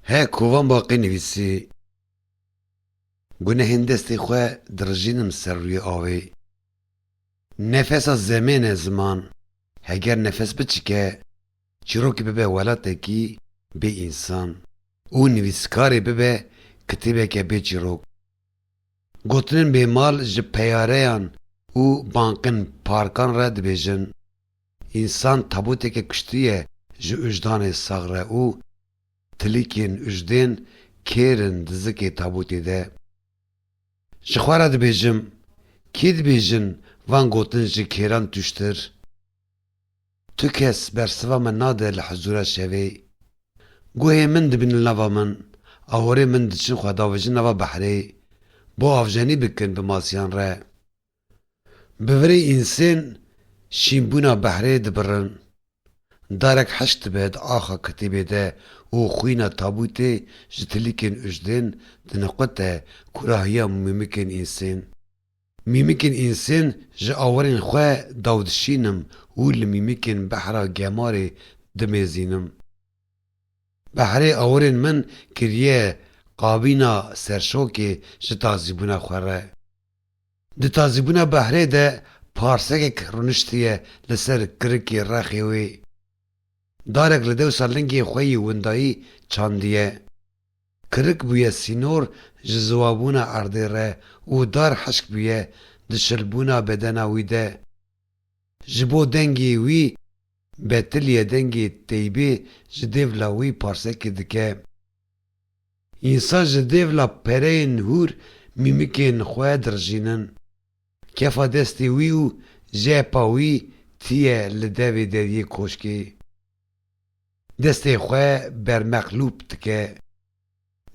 He kovan baqê nivîsî. Gunehên destê xwe dirijînim ser rûyê avê. Nefesa zemên e ziman. Heger nefes biçike, çîrokê bibe welatekî bê însan û nivîskarê bibe kitêbeke bê çîrok. Gotinên bêmal ji peyareyan û banqên parkan re dibêjin. Însan tabûteke kiştî ye ji ujdanê sax re û tilîkên ujdên kêr in di zikê tabûtê de. Ji xwe re dibêjim, kî dibêjin van gotin ji kêran tûştir? Tu kes bersiva me nade li hizûra şevê. Guhê min dibin li nava min, ahorê min diçin xwe davijin nava behrê, bo avjenî bikin bi masiyan re. Bi virê însên şînbûna behrê dibirin. Darek heşt dibe di axa kitêbê de û xwîna tabûtê ji tilîkên ujdên diniqute kurahiya mîmikên însên. Mîmikên însên ji awerên xwe daw dişînim û li mîmikên behra gemarê dimezînim. Behrê awerên min kiriye qabîna serşokê ji tazîbûna xwe re. Di tazîbûna behrê de parsekek rûniştiye li ser kirikê rexê wê. Darek li dewsa lingê xwe yî windayî çandiye. Kirik bûye sînor ji ziwabûna erdê re û dar hişk bûye di şilbûna bedena wî de. Ji bo dengê wî betiliye dengê teybê ji dêvla wî parsekê dike. Însan ji dêv la pereyên hûr mîmikên xwe dirijînin. Kefa destê wî û jepa wî tiye li devê deriyê koşkê. Destê xwe bermeqlûb dike.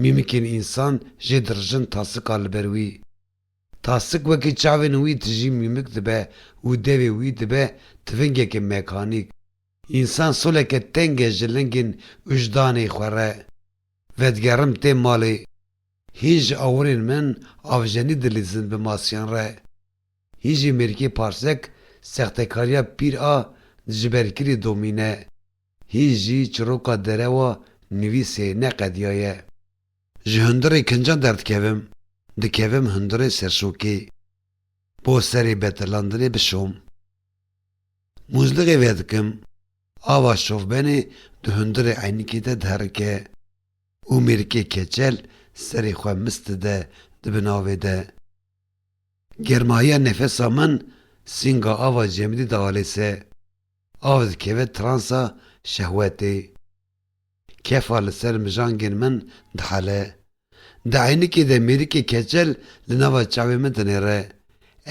Mîmikên însan jê dirijin tasika li ber wî. Tasik wekî çavên wî tijî mîmik dibe û devê wî dibe tivingeke mekanîk. Însan soleke teng e ji lingên wijdanê xwe re. Vedigerim tê malê. Hîn ji awirên min avjenî dilîzin bi masiyan re. Hîn jî mêrikê parsek sextekariya pîr a dijiberkirî domîne. Hîn jî çiroka derewa nivîsê ne qediya ye. Ji hundirê kincan derdikevim, dikevim hundirê serşokê. Bo serê betirlandinê bişom. Mûzliqê vedikim. Ava şovbenê di hundirê eynikê de diherike û mêrikê keçel serê xwe mis dide di bin avê de. Germahiya nefesa min sînga ava cemidî dialê se. Av dikeve transa şehwetê. Kefa li ser mijangên min dihele. Di eynikê de mêrikê keçel li nava çavên min dinêre.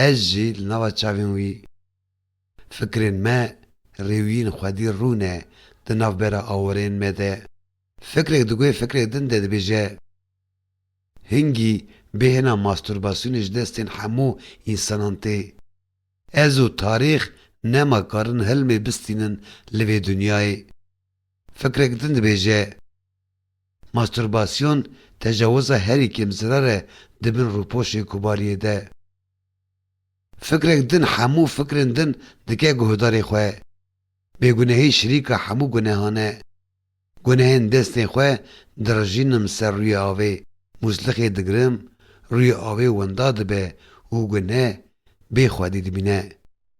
Ez jî li nava çavên wî. Fikrên me, rêwiyên xwedî rû ne di navbera awerên me de. Fikrek di guhê fikrê din de dibêje, Hingî bêhna mastûrbasyonê ji destên hemû însanan tê. Ez û tarîx nema karin hilmê bistînin li vê dinyayê. Fikrek din dibêje, Mastûrbasyon tecawiza herî kêm zirar e di bin rûpoşê kobariyê de. Fikrek din hemû fikrên din dike guhdarê xwe. Bêgunehî şirîka hemû gunehan e. Gunehên destên xwe dirijînim ser rûyê avê, mûslixê digirim, rûyê avê winda dibe û guneh bê xwedî dimîne.